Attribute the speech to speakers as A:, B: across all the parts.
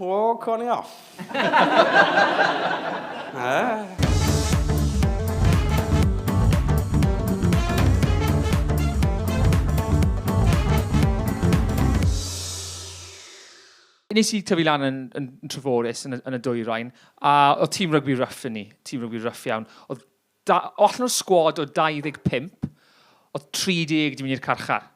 A: O, co ni off.
B: Nes i tyfu lan yn, yn, yn Treforys, yn, yn y dwyrain, a oedd tîm rygbi rough yn ni, tîm rygbi rough iawn. Oedd Da, allan o'r sgwad o 25, oedd 30 di mynd i'r carchar.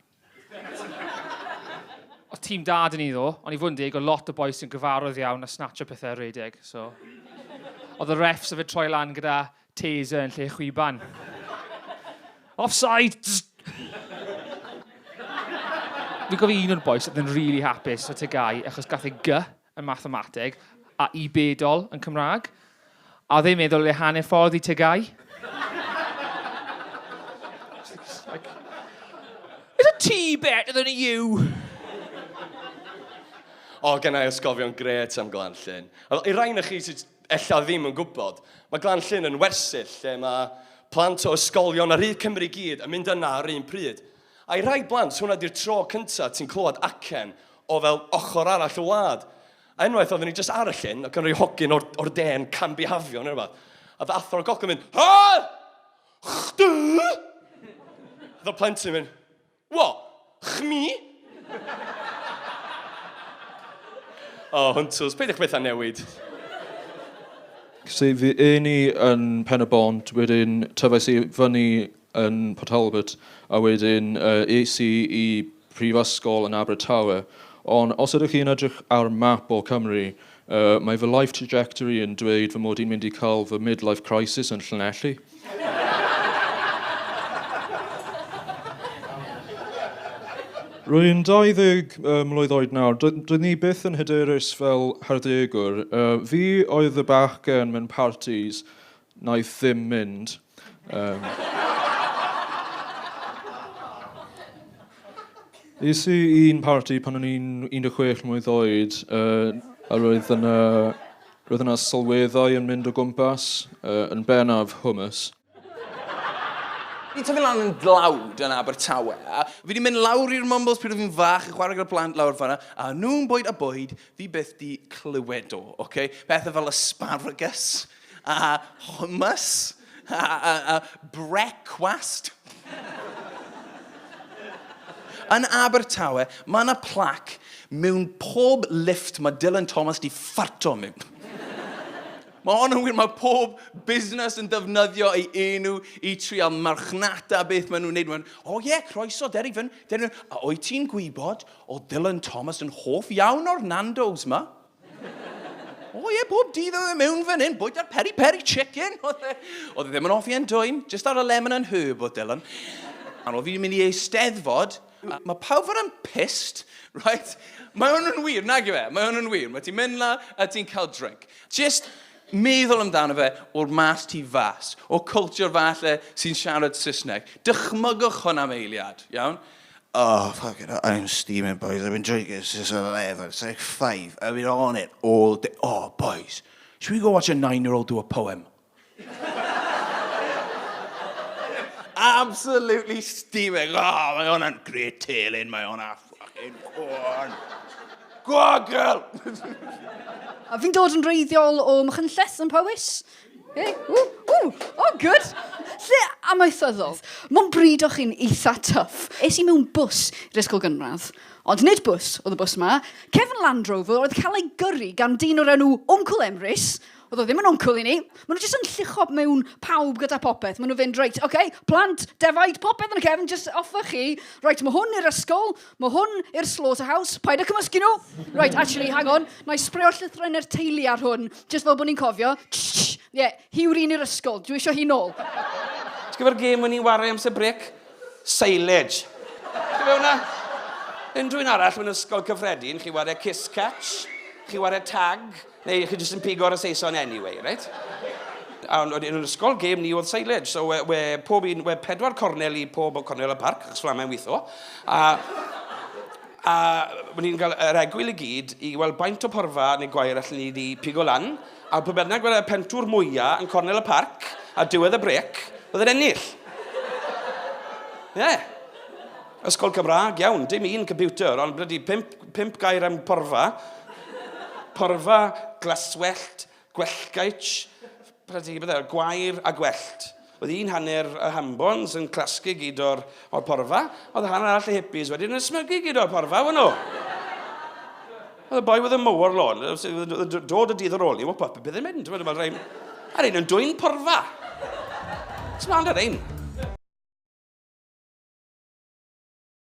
B: Oedd tîm da dyn ni ddo, ond i fod yn deg, oedd lot o bois sy'n gyfarwydd iawn a snatcho pethau ar redeg, so... Oedd y refs yfed troi lan gyda taser yn lle chwiban. Offside! Dwi'n cofio un o'r bois oedd yn really hapus o Tegai achos gath ei gy yn mathemateg, a'i bedol yn Cymraeg, a ddim meddwl le hanner ffordd i tŷ Gai. It's a tea better than a you.
A: O, gen i ysgofion gret am Glan Llyn. I rai na chi sydd ella ddim yn gwybod, mae Glan Llyn yn wersyll lle mae plant o ysgolion ar hyd Cymru i gyd yn mynd yna ar un pryd. I rai blant, hwnna 'di'r tro cynta ti'n clywed acen o fel ochr arall y wlad. A unwaith oedden ni jyst ar y llyn, ac yn rhoi hogyn o'r, or de'n cambihafio neu rhywbeth. A oedd athro'r goc yn mynd, Hal! Chdu! Oedd y plentyn yn mynd, What? Chmi? O, oh, hwntws, peidiwch bethau newid.
C: Sef i un i yn Pen-y-bont, wedyn tyfais i fyny yn Port Talbot a wedyn es i i brifysgol yn Abertawe. Ond os ydych chi yn edrych ar map o Cymru, mae fy life trajectory yn dweud fy mod i'n mynd i cael fy midlife crisis yn Llanelli. Rwy'n 20 mlwydd oed nawr, doeddwn i byth yn hyderus fel harddegwr. Fi oedd y bachgen mewn partis wnaeth ddim mynd. Um, Is i un parti pan o'n i'n 16 mlynedd oed, uh, a roedd yna, roedd yna sylweddau yn mynd o gwmpas, uh, yn benaf hummus.
D: Fi'n tyfu lan yn dlawd yn Abertawe, a fi wedi mynd lawr i'r Mumbles pryd fi'n fach yn chwarae gyda plant lawr fanna, a nhw'n bwyd a bwyd, fi byth di clywed o, oce? Okay? Pethau fel asparagus, A hummus. A, a, a brecwast. Yn Abertawe, mae yna plac mewn pob lift mae Dylan Thomas di ffarto mewn. Mae hon yn wir, mae pob busnes yn defnyddio ei enw i trial marchnata beth maen nhw'n neud. Mae'n, o oh, ie, yeah, croeso, Derry Fyn, Derry Fyn. A o'i ti'n gwybod, o Dylan Thomas yn hoff iawn o'r Nando's ma? O oh, ie, yeah, bob dydd oedd e mewn fan hyn, bwyta'r peri-peri chicken. Oedd e, oedd e ddim yn hoffi e'n dwyn, just ar y lemon and herb o Dylan. A oedd fi'n mynd i ei steddfod, a mae pawb fan yn pissed, right? Mae hwn yn wir, nag yw e? Mae hwn yn wir. Mae ti'n mynd la a ti'n cael drink. Just meddwl amdano fe o'r mas tu fas, o culture falle sy'n siarad Saesneg. Dychmygwch hwn am eiliad, iawn? Oh, fuck
E: it, I am steaming, boys. I've been drinking since 11. It's like 5. I've been on it all day. Oh, boys, should we go watch a nine-year-old do a poem?
D: Absolutely steaming. Oh, mae hwnna'n great telyn, mae hwnna fucking corn. Go on, girl!
F: A fi'n dod yn reiddiol o Machynlleth yn Powys. Hey, ww, ww, oh good. Lle amaethyddol. Mae'n bryd o chi'n eitha tuff. Es i mewn bus i'r ysgol gynradd. Ond nid bus oedd y bus yma. Cefn Land Rover oedd cael ei gyrru gan dyn o'r enw Wncwl Emrys. Oedd o ddim yn wncwl i ni. Maen nhw jyst yn llucho mewn pawb gyda popeth. Maen nhw fynd, reit, oce, okay, plant, defaid, popeth yn y cefn, jyst offa chi. Reit, mae hwn i'r ysgol. Mae hwn i'r slaughterhouse. Paid â cymysgu nhw! Right, actually, hang on. Na i sbreo'r llythrennau'r teulu ar hwn, jyst fel bod ni'n cofio. Ie, yeah, hi yw'r un i'r ysgol. Dwi eisiau hi nôl. Ti'n gyfer
A: gêm o'n i'n wario amser brec? Silage. Ti'n fe hwnna? Unrhyw un arall mewn ysgol cyffredin, chi wario kiss catch, chi wario tag, Neu chi jyst yn pigo ar y Saeson anyway, reit? A o'n i'n ysgol, gêm ni oedd silage. So, we, we pob un, we pedwar cornel i pob o cornel y parc, achos fflamau'n weithio. A, a o'n i'n cael yr egwyl i gyd i weld baint o porfa neu gwair allan ni wedi pigo lan. A pwy bynnag weld y pentwr mwyaf yn cornel y parc, a diwedd y brec, oedd yn ennill. Ie. Yeah. Ysgol Cymraeg, iawn, dim un computer, ond blydi pimp, pimp gair am porfa. Porfa,
G: glaswellt, gwellgaich, blydi bydde, gwair a gwellt. Oedd un hanner y hambons yn clasgu gyd o'r, or porfa, oedd y hanner arall y hippies wedyn yn smygu gyd o'r porfa, wyn nhw. Oedd y boi oedd y mowr lawn, dod y dydd ar ôl ni, wop, bydd yn mynd, mae'n rhaid. Ar ein yn dwy'n porfa. Ti'n ond ar ein.